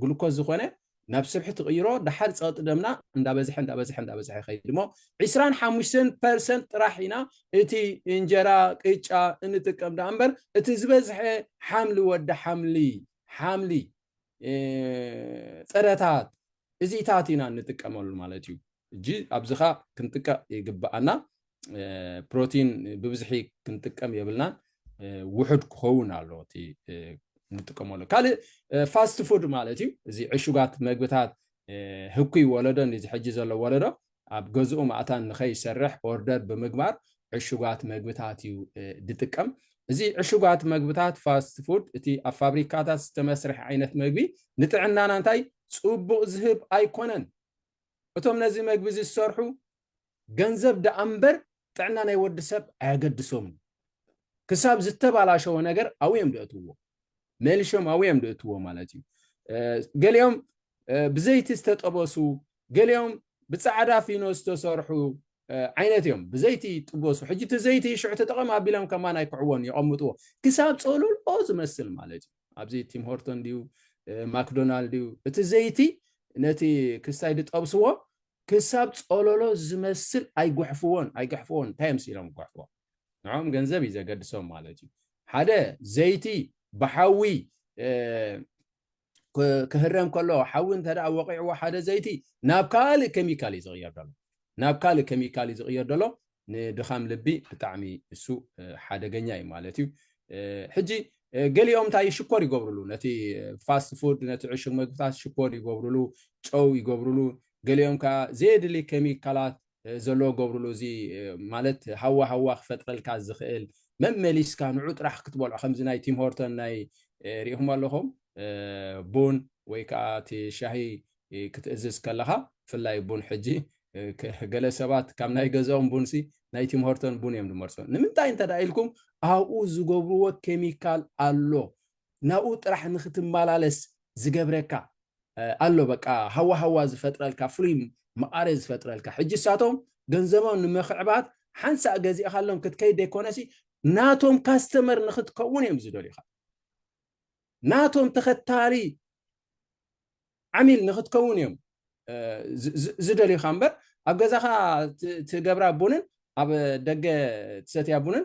ግሉኮስ ዝኾነ ናብ ስብሒ ትቕይሮ ድሓር ፀቕጢ ደምና እንዳበዝሐ እንዳበዝሐ እንዳበዝሐ ይኸይድ እሞ ዒስራን ሓሙሽተን ፐርሰንት ጥራሕ ኢና እቲ እንጀራ ቅጫ እንጥቀም ዳኣ እምበር እቲ ዝበዝሐ ሓምሊ ወዲ ሓምሊ ሓምሊ ጥረታት እዚታት ኢና እንጥቀመሉ ማለት እዩ እጂ ኣብዚኻ ክንጥቀቕ ይግብኣና ፕሮቲን ብብዝሒ ክንጥቀም የብልናን ውሑድ ክኸውን ኣሎ እቲ ንጥቀመሉ ካልእ ፋስት ፉድ ማለት እዩ እዚ ዕሹጋት መግብታት ህኩይ ወለዶ እዚ ሕጂ ዘሎ ወለዶ ኣብ ገዝኡ ማእታን ንኸይሰርሕ ኦርደር ብምግባር ዕሹጋት መግብታት እዩ ዝጥቀም። እዚ ዕሹጋት መግብታት ፋስት ፉድ እቲ ኣብ ፋብሪካታት ዝተመስርሐ ዓይነት መግቢ ንጥዕናና እንታይ ጽቡቕ ዝህብ ኣይኮነን። እቶም ነዚ መግቢ እዚ ዝሰርሑ ገንዘብ ደኣ እምበር ጥዕና ናይ ወዲ ሰብ ኣየገድሶምን። ክሳብ ዝተባላሸወ ነገር ኣብኡ እዮም ዘእትውዎ፣ መልሾም ኣብኡ እዮም ዘእትውዎ ማለት እዩ። ገሊኦም ብዘይቲ ዝተጠበሱ ገሊኦም ብጻዕዳ ፊኖ ዝተሰርሑ ዓይነት እዮም ብዘይቲ ጥበሱ ሕጂ እቲ ዘይቲ ሽዑ ተጠቐም ኣቢሎም ከማን ኣይክዕዎን የቐምጥዎ ክሳብ ጸሎልኦ ዝመስል ማለት እዩ ኣብዚ ቲም ሆርቶን ድዩ ማክዶናልድ እዩ እቲ ዘይቲ ነቲ ክስታይ ዝጠብስዎ ክሳብ ጸሎሎ ዝመስል ኣይጉሕፍዎን ኣይግሕፍዎን እንታይ እዮም ስኢሎም ጉሕፍዎ ንዕኦም ገንዘብ እዩ ዘገድሶም ማለት እዩ ሓደ ዘይቲ ብሓዊ ክህረም ከሎ ሓዊ እንተ ወቂዕዎ ሓደ ዘይቲ ናብ ካልእ ኬሚካል እዩ ዝቕየር ዘሎ ናብ ካልእ ኬሚካል እዩ ዝቕየር ዘሎ ንድኻም ልቢ ብጣዕሚ እሱ ሓደገኛ እዩ ማለት እዩ ሕጂ ገሊኦም እንታይ ሽኮር ይገብርሉ ነቲ ፋስት ፉድ ነቲ ዕሹግ መግብታት ሽኮር ይገብርሉ ጨው ይገብርሉ ገሊኦም ከዓ ዘየድሊ ኬሚካላት ዘለዎ ክገብርሉ እዚ ማለት ሃዋ ሃዋ ክፈጥረልካ ዝኽእል መመሊስካ ንዑ ጥራሕ ክትበልዖ ከምዚ ናይ ቲም ሆርተን ናይ ሪኢኹም ኣለኹም ቡን ወይ ከዓ እቲ ሻሂ ክትእዝዝ ከለኻ ብፍላይ ቡን ሕጂ ገለ ሰባት ካብ ናይ ገዛኦም ቡንሲ ናይ ቲም ሆርተን ቡን እዮም ዝመርፁ ንምንታይ እንተ ኢልኩም ኣብኡ ዝገብርዎ ኬሚካል ኣሎ ናብኡ ጥራሕ ንክትመላለስ ዝገብረካ ኣሎ በቃ ሃዋ ሃዋ ዝፈጥረልካ ፍሉይ መቃሬ ዝፈጥረልካ ሕጂ ንሳቶም ገንዘቦም ንምኽዕባት ሓንሳእ ገዚእኻሎም ክትከይድ ዘይኮነሲ ናቶም ካስተመር ንክትከውን እዮም ዝደልዩኻ ናቶም ተኸታሊ ዓሚል ንክትከውን እዮም ዝደልዩካ እምበር ኣብ ገዛኻ ትገብራ ቡንን ኣብ ደገ ትሰትያ ቡንን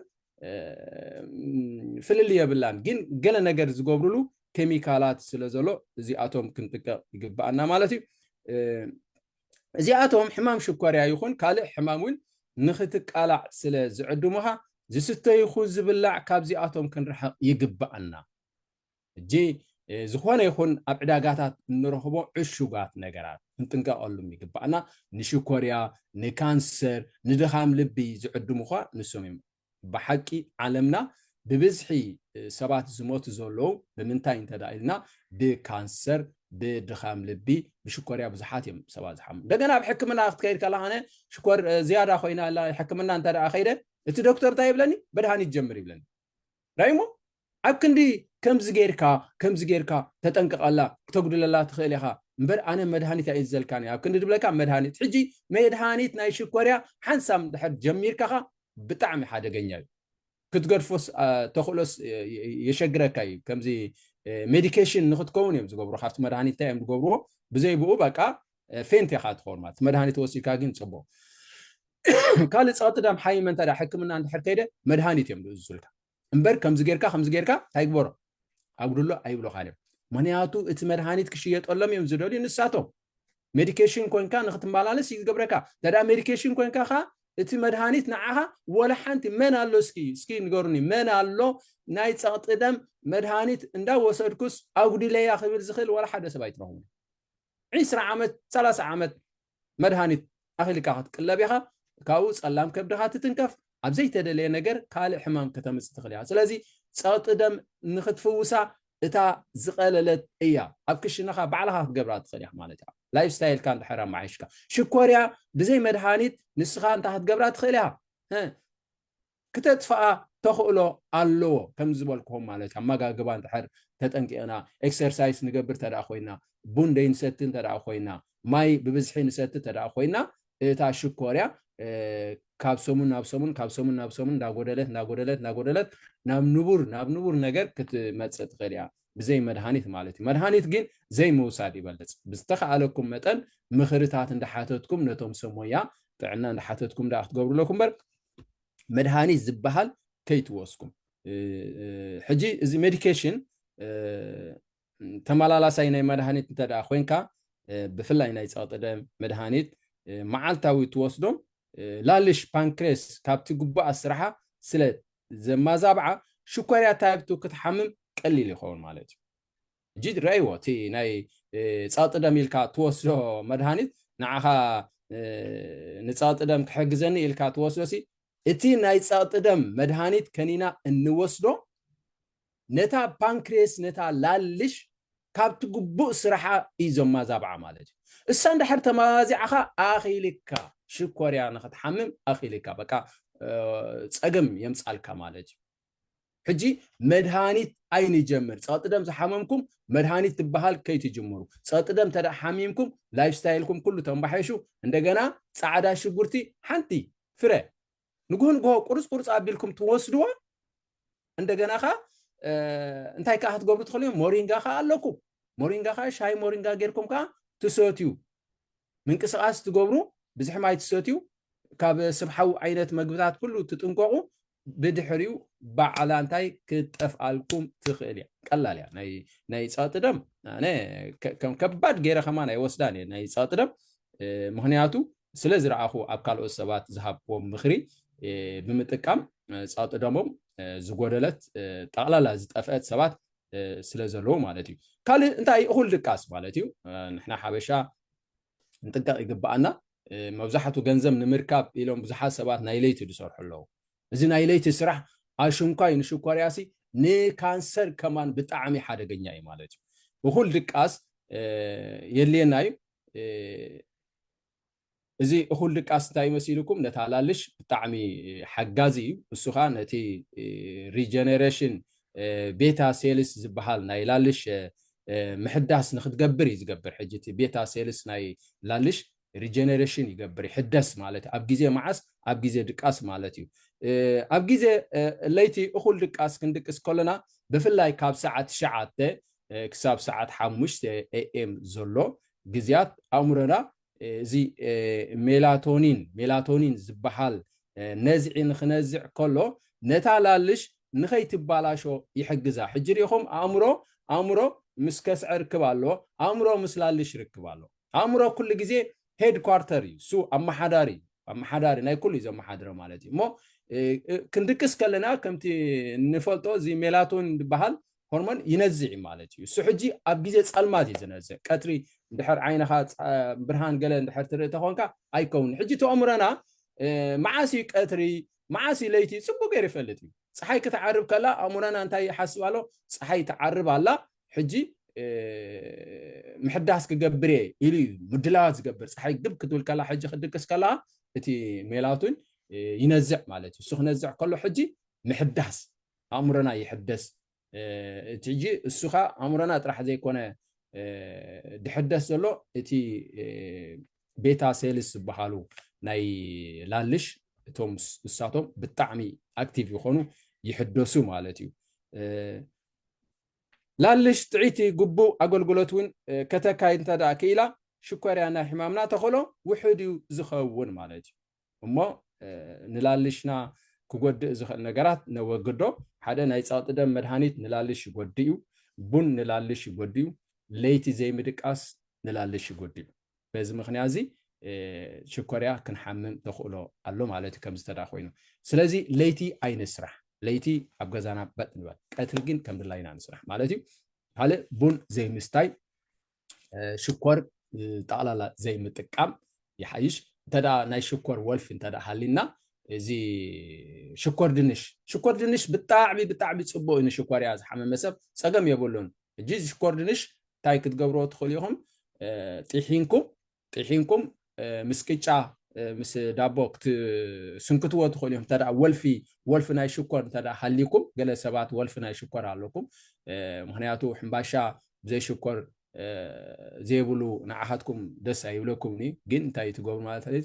ፍልል የብላን ግን ገለ ነገር ዝገብሩሉ ኬሚካላት ስለ ዘሎ እዚኣቶም ክንጥቀቕ ይግባኣና ማለት እዩ እዚኣቶም ሕማም ሽኮርያ ይኹን ካልእ ሕማም እውን ንክትቃላዕ ስለ ዝዕድሙኻ ዝስተ ይኹ ዝብላዕ ካብዚኣቶም ክንርሕቕ ይግባኣና ሕጂ ዝኾነ ይኹን ኣብ ዕዳጋታት እንረኽቦ ዕሹጋት ነገራት ክንጥንቀቐሉም ይግባእና። ንሽኮርያ፣ ንካንሰር፣ ንድኻም ልቢ ዝዕድሙኻ ንሶም እዮም። ብሓቂ ዓለምና ብብዝሒ ሰባት ዝሞቱ ዘለዉ ብምንታይ እንተ ኢልና ብካንሰር፣ ብድኻም ልቢ፣ ብሽኮርያ ብዙሓት እዮም ሰባት ዝሓሙ። እንደገና ኣብ ሕክምና ክትከይድ ከለኻ ኣነ ሽኮር ዝያዳ ኮይና ኣላ ሕክምና እንተ ከይደ እቲ ዶክተር እንታይ ይብለኒ መድሃኒት ጀምር ይብለኒ ራይሞ ኣብ ክንዲ ከምዚ ጌርካ ከምዚ ጌርካ ተጠንቀቐላ ክተጉድለላ ትኽእል ኢኻ እምበር ኣነ መድሃኒት ኣይእዝዘልካን እየ ኣብ ክንዲ ድብለካ መድሃኒት ሕጂ መድሃኒት ናይ ሽኮርያ ሓንሳብ እንድሕር ጀሚርካኻ ብጣዕሚ ሓደገኛ እዩ ክትገድፎስ ተኽእሎስ የሸግረካ እዩ ከምዚ ሜዲኬሽን ንክትከውን እዮም ዝገብሩ ካብቲ መድሃኒት እንታይ እዮም ዝገብርዎ ብዘይ ብኡ በቃ ፌንት ኢኻ ትኸውን ማለት መድሃኒት ወሲድካ ግን ፅቡቕ ካልእ ፀቕጢ ደም ሓይመ እንተ ሕክምና እንድሕር ከይደ መድሃኒት እዮም ዝእዝዙልካ እምበር ከምዚ ጌርካ ከምዚ ጌርካ እንታይ ግበሮ ኣጉድሎ ኣይብሎኻን እዮም ምክንያቱ እቲ መድሃኒት ክሽየጠሎም እዮም ዝደልዩ ንሳቶም ሜዲኬሽን ኮንካ ንክትመላለስ እዩ ዝገብረካ እንተ ሜዲኬሽን ኮንካ ከ እቲ መድሃኒት ንዓኻ ወላ ሓንቲ መን ኣሎ እስኪ እስኪ ንገሩኒ መን ኣሎ ናይ ፀቕጢ ደም መድሃኒት እንዳወሰድኩስ ኣጉዲለያ ክብል ዝኽእል ወላ ሓደ ሰብ ኣይትረኽቡ ዒስራ ዓመት ሰላሳ ዓመት መድሃኒት ኣኺልካ ክትቅለብ ኢኻ፣ ካብኡ ጸላም ከብድኻ ትትንከፍ፣ ኣብ ዘይተደለየ ነገር ካልእ ሕማም ከተምጽእ ትኽእል ኢኻ። ስለዚ ጸቕጢ ደም ንኽትፍውሳ እታ ዝቐለለት እያ፣ ኣብ ክሽነኻ ባዕልኻ ክትገብራ ትኽእል ኢኻ ማለት እያ፣ ላይፍ ስታይልካ እንድሕር ኣመሓይሽካ። ሽኮርያ ብዘይ መድሃኒት ንስኻ እንታይ ክትገብራ ትኽእል ኢኻ? ክተጥፍኣ ተኽእሎ ኣለዎ ከምዚ ዝበልክኹም ማለት እዩ ኣማጋግባ እንድሕር ተጠንቂቕና ኤክሰርሳይስ ንገብር ተደኣ ኮይና ቡን ደይንሰቲ እንተደኣ ኮይና ማይ ብብዝሒ ንሰቲ ተደኣ ኮይና እታ ሽኮርያ ካብ ሰሙን ናብ ሰሙን ካብ ሰሙን ናብ ሰሙን እንዳጎደለት እንዳጎደለት እንዳጎደለት ናብ ንቡር ናብ ንቡር ነገር ክትመጽእ ትኽእል እያ ብዘይ መድሃኒት ማለት እዩ መድሃኒት ግን ዘይምውሳድ ይበልጽ ብዝተኸኣለኩም መጠን ምኽርታት እንዳሓተትኩም ነቶም ሰሞያ ጥዕና እንዳሓተትኩም ደኣ ክትገብሩ ኣለኩም እምበር መድሃኒት ዝበሃል ከይትወስኩም ሕጂ እዚ ሜዲኬሽን ተመላላሳይ ናይ መድሃኒት እንተ ኮንካ ብፍላይ ናይ ፀቕጢ ደም መድሃኒት መዓልታዊ ትወስዶም ላልሽ ፓንክሬስ ካብቲ ግቡኣ ስራሓ ስለ ዘማዛብዓ ሽኮርያ ታይፕቱ ክትሓምም ቀሊል ይኸውን ማለት እዩ ሕጂ ርኣይዎ እቲ ናይ ጸቕጢ ደም ኢልካ እትወስዶ መድሃኒት ንዓኻ ንጸቕጢ ደም ክሕግዘኒ ኢልካ ትወስዶሲ እቲ ናይ ጸቕጢ ደም መድሃኒት ከኒና እንወስዶ ነታ ፓንክሬስ ነታ ላልሽ ካብቲ ግቡእ ስራሓ እዩ ዘማዛብዓ ማለት እዩ እሳ እንድሕር ተማዚዕኻ ኣኺልካ ሽኮርያ ንኽትሓምም ኣኺልካ በቃ ጸገም የምጻልካ ማለት እዩ ሕጂ መድሃኒት ኣይንጀምር ጸቕጢ ደም ዝሓመምኩም መድሃኒት ትበሃል ከይትጅምሩ ጸቕጢ ደም እንተ ሓሚምኩም ላይፍ ስታይልኩም ኩሉ ተንባሒሹ እንደገና ጻዕዳ ሽጉርቲ ሓንቲ ፍረ ንጉሆ ንጉሆ ቁርጽ ቁርጽ ኣቢልኩም ትወስድዋ እንደገና ኸ እንታይ ከዓ ክትገብሩ ትኽእሉ እዮም ሞሪንጋ ከዓ ኣለኩም ሞሪንጋ ከዓ ሻይ ሞሪንጋ ጌርኩም ከዓ ትሰትዩ ምንቅስቃስ ትገብሩ ብዝሒ ማይ ትሰትዩ ካብ ስብሓዊ ዓይነት መግብታት ኩሉ ትጥንቀቑ ብድሕሪኡ ባዕላ እንታይ ክትጠፍኣልኩም ትኽእል እያ ቀላል እያ ናይ ፀቕጢ ደም ኣነ ከም ከባድ ገይረ ከማን ኣይወስዳን እየ ናይ ፀቕጢ ደም ምክንያቱ ስለ ዝረኣኹ ኣብ ካልኦት ሰባት ዝሃብዎም ምኽሪ ብምጥቃም ፀቕጢ ደሞም ዝጎደለት ጠቕላላ ዝጠፍአት ሰባት ስለ ዘለዎ ማለት እዩ ካልእ እንታይ እኹል ድቃስ ማለት እዩ ንሕና ሓበሻ ንጥንቀቕ ይግባኣና መብዛሕቱ ገንዘብ ንምርካብ ኢሎም ብዙሓት ሰባት ናይ ለይቲ ዝሰርሑ ኣለዉ እዚ ናይ ለይቲ ስራሕ ኣሽንኳይ ንሽኮርያሲ ንካንሰር ከማን ብጣዕሚ ሓደገኛ እዩ ማለት እዩ እኹል ድቃስ የድልየና እዩ እዚ እኹል ድቃስ እንታይ እዩ መሲሉኩም ነታ ኣላልሽ ብጣዕሚ ሓጋዚ እዩ እሱ ከኣ ነቲ ሪጀነሬሽን ቤታ ሴልስ ዝበሃል ናይ ላልሽ ምሕዳስ ንክትገብር እዩ ዝገብር ሕጂ እቲ ቤታ ሴልስ ናይ ላልሽ ሪጀነሬሽን ይገብር ይሕደስ ማለት ኣብ ግዜ መዓስ ኣብ ግዜ ድቃስ ማለት እዩ ኣብ ግዜ ለይቲ እኹል ድቃስ ክንድቅስ ከለና ብፍላይ ካብ ሰዓት ትሽዓተ ክሳብ ሰዓት ሓሙሽተ ኤኤም ዘሎ ግዜያት ኣእምሮና እዚ ሜላቶኒን፣ Melatonin፣ ዝበሃል ነዝዒ ንኽነዝዕ ከሎ ነታ ላልሽ ንኸይትባላሾ ይሕግዛ። ሕጂ ርኢኹም ኣእምሮ ኣእምሮ ምስ ከስዐ ርክብ ኣለዎ፣ ኣእምሮ ምስ ላልሽ ርክብ ኣለዎ። ኣእምሮ ኩሉ ግዜ ሄድ ኳርተር እዩ፣ እሱ ኣመሓዳሪ እዩ፣ ኣመሓዳሪ ናይ ኩሉ እዩ ዘመሓድሮ ማለት እዩ። እሞ ክንድቅስ ከለና ከምቲ እንፈልጦ እዚ ሜላቶኒን ዝበሃል ሆርሞን ይነዝዕ እዩ ማለት እዩ። እሱ ሕጂ ኣብ ግዜ ጸልማት እዩ ዝነዝዕ፣ ቀትሪ እንድሕር ዓይንኻ ብርሃን ገለ እንድሕር ትርኢ ተኾንካ ኣይከውንን። ሕጂ እቲ ኣእምሮና መዓስ እዩ ቀትሪ መዓስ እዩ ለይቲ ጽቡቕ ገይሩ ይፈልጥ እዩ። ጸሓይ ክትዓርብ ከላ ኣእምሮና እንታይ ይሓስብ ኣሎ፣ ጸሓይ ትዓርብ ኣላ ሕጂ ምሕዳስ ክገብር እየ ኢሉ እዩ ምድላዋት ዝገብር። ጸሓይ ግብ ክትብል ከላ ሕጂ ክትድቅስ ከለኻ እቲ ሜላቶን ይነዝዕ ማለት እዩ። እሱ ክነዝዕ ከሎ ሕጂ ምሕዳስ ኣእምሮና ይሕደስ እቲ ሕጂ እሱ ከ ኣእምሮና ጥራሕ ዘይኮነ ድሕደስ ዘሎ እቲ ቤታ ሴልስ ዝበሃሉ ናይ ላልሽ እቶም እሳቶም ብጣዕሚ ኣክቲቭ ይኾኑ ይሕደሱ ማለት እዩ ላልሽ ጥዒቲ ግቡእ ኣገልግሎት እውን ከተካይድ እንተ ክኢላ ሽኮርያ ናይ ሕማምና ተኸእሎ ውሕድ እዩ ዝኸውን ማለት እዩ እሞ ንላልሽና ክጎድእ ዝኽእል ነገራት ነወግዶ። ሓደ ናይ ጸቕጢ ደም መድሃኒት ንላልሽ ይጎድእ እዩ። ቡን ንላልሽ ይጎድእ እዩ። ለይቲ ዘይምድቃስ ንላልሽ ይጎድእ እዩ። በዚ ምኽንያት እዚ ሽኮርያ ክንሓምም ተኽእሎ ኣሎ ማለት እዩ ከምዚ ተዳ ኮይኑ። ስለዚ ለይቲ ኣይንስራሕ። ለይቲ ኣብ ገዛና በጥ ንበል። ቀትሪ ግን ከም ድላይና ንስራሕ ማለት እዩ። ካልእ ቡን ዘይምስታይ ሽኮር ጠቕላላ ዘይምጥቃም ይሓይሽ እንተ ናይ ሽኮር ወልፊ እንተ ሃሊና እዚ ሽኮር ድንሽ ሽኮር ድንሽ ብጣዕሚ ብጣዕሚ ፅቡቅ እዩ ንሽኮር እያ ዝሓመመ ሰብ ፀገም የብሉን ሕጂ ሽኮር ድንሽ እንታይ ክትገብርዎ ትኽእሉ ኢኹም ጢሒንኩም ጢሒንኩም ምስ ቅጫ ምስ ዳቦ ክትስንክትዎ ትኽእሉ ኢኹም እንተ ወልፊ ወልፊ ናይ ሽኮር እንተ ሃልይኩም ገለ ሰባት ወልፊ ናይ ሽኮር ኣለኩም ምክንያቱ ሕምባሻ ብዘይ ሽኮር ዘይብሉ ንዓኻትኩም ደስ ኣይብለኩምን እዩ ግን እንታይ ትገብሩ ማለት እዩ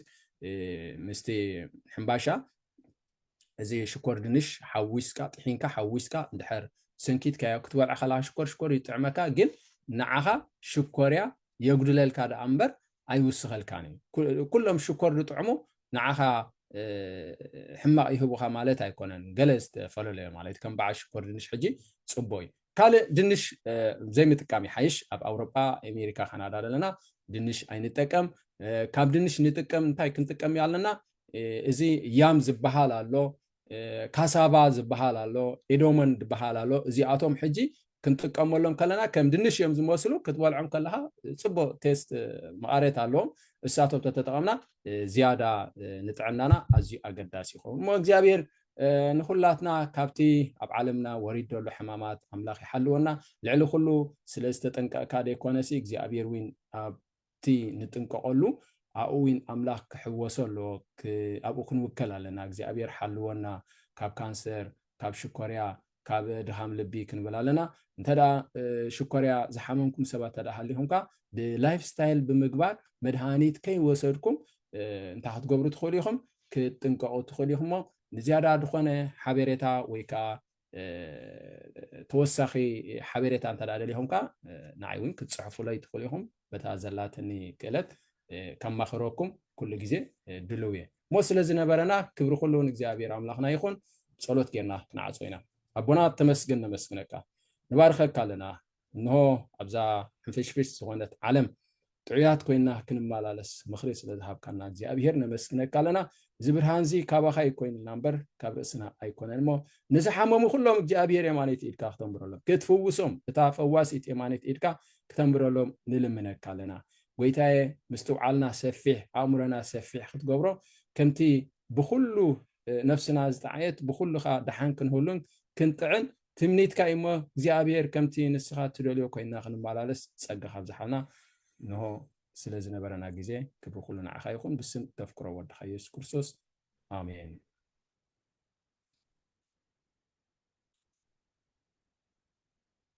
ምስቲ ሕምባሻ እዚ ሽኮር ድንሽ ሓዊስካ ጥሒንካ ሓዊስካ እንድሕር ሰንኪትካዮ ክትበልዕ ከለካ ሽኮር ሽኮር ይጥዕመካ ግን ንዓኻ ሽኮርያ የጉድለልካ ደኣ እምበር ኣይውስኸልካን እዩ። ኩሎም ሽኮር ዝጥዕሙ ንዓኻ ሕማቕ ይህቡኻ ማለት ኣይኮነን፣ ገለ ዝተፈለለዮ ማለት እዩ። ከም በዓል ሽኮር ድንሽ ሕጂ ጽቡቕ እዩ። ካልእ ድንሽ ዘይምጥቃም ይሓይሽ። ኣብ ኣውሮጳ፣ ኣሜሪካ፣ ካናዳ ዘለና ድንሽ ኣይንጠቀም። ካብ ድንሽ ንጥቀም እንታይ ክንጥቀም ኣለና? እዚ ያም ዝበሃል ኣሎ፣ ካሳቫ ዝበሃል ኣሎ ኢዶመን ዝበሃል ኣሎ እዚኣቶም ሕጂ ክንጥቀመሎም ከለና ከም ድንሽ እዮም ዝመስሉ ክትበልዖም ከለካ ፅቡቅ ቴስት መቐሬት ኣለዎም እሳቶም ተተጠቐምና ዝያዳ ንጥዕናና ኣዝዩ ኣገዳሲ ይኸውን እሞ እግዚኣብሔር ንኩላትና ካብቲ ኣብ ዓለምና ወሪድ ዘሎ ሕማማት ኣምላኽ ይሓልወና ልዕሊ ኩሉ ስለ ዝተጠንቀቕካ ዘይኮነሲ እግዚኣብሔር እውን ኣብ ኣብቲ ንጥንቀቀሉ ኣብኡ ዊን ኣምላክ ክሕወሶ ኣለዎ ኣብኡ ክንውከል ኣለና እግዚኣብሔር ሓልወና ካብ ካንሰር ካብ ሽኮርያ ካብ ድኻም ልቢ ክንብል ኣለና እንተ ሽኮርያ ዝሓመምኩም ሰባት እንተ ሃሊኹም ከ ብላይፍ ስታይል ብምግባር መድሃኒት ከይወሰድኩም እንታይ ክትገብሩ ትኽእሉ ኢኹም ክትጥንቀቁ ትኽእሉ ኢኹም እሞ ንዝያዳ ዝኾነ ሓበሬታ ወይ ከዓ ተወሳኺ ሓበሬታ እንተ ደሊኹም ከዓ ንዓይ እውን ክትፅሕፉለይ ትኽእሉ ኢኹም በታ ዘላትኒ ክእለት ከማኽረኩም ኩሉ ግዜ ድልው እየ እሞ ስለ ዝነበረና ክብሪ ኩሉ ንእግዚኣብሔር ኣምላኽና ይኹን ፀሎት ጌርና ክንዓፆ ኢና ኣቦና ተመስግን ነመስግነካ ንባርኸካ ኣለና እንሆ ኣብዛ ሕንፍሽፍሽ ዝኾነት ዓለም ጥዑያት ኮይና ክንመላለስ ምኽሪ ስለ ዝሃብካና እግዚኣብሄር ነመስግነካ ኣለና። እዚ ብርሃን እዚ ካባኻ እዩ ኮይኑና እምበር ካብ ርእስና ኣይኮነን እሞ ንዝሓመሙ ኩሎም እግዚኣብሄር የማነይቲ ኢድካ ክተንብረሎም ክትፍውሶም እታ ፈዋሲት የማነይቲ ኢድካ ክተንብረሎም ንልምነካ ኣለና። ጎይታየ ምስትውዓልና ሰፊሕ ኣእምሮና ሰፊሕ ክትገብሮ ከምቲ ብኩሉ ነፍስና ዝጠዓየት ብኩሉ ከኣ ደሓን ክንህሉን ክንጥዕን ትምኒትካ እዩ እሞ እግዚኣብሔር ከምቲ ንስኻ እትደልዮ ኮይንና ክንመላለስ ጸጋ ካብዝሓልና እንሆ ስለ ዝነበረና ግዜ ክብሪ ኩሉ ንዓኻ ይኹን ብስም እተፍቅሮ ወድኻ ኢየሱስ ክርስቶስ ኣሜን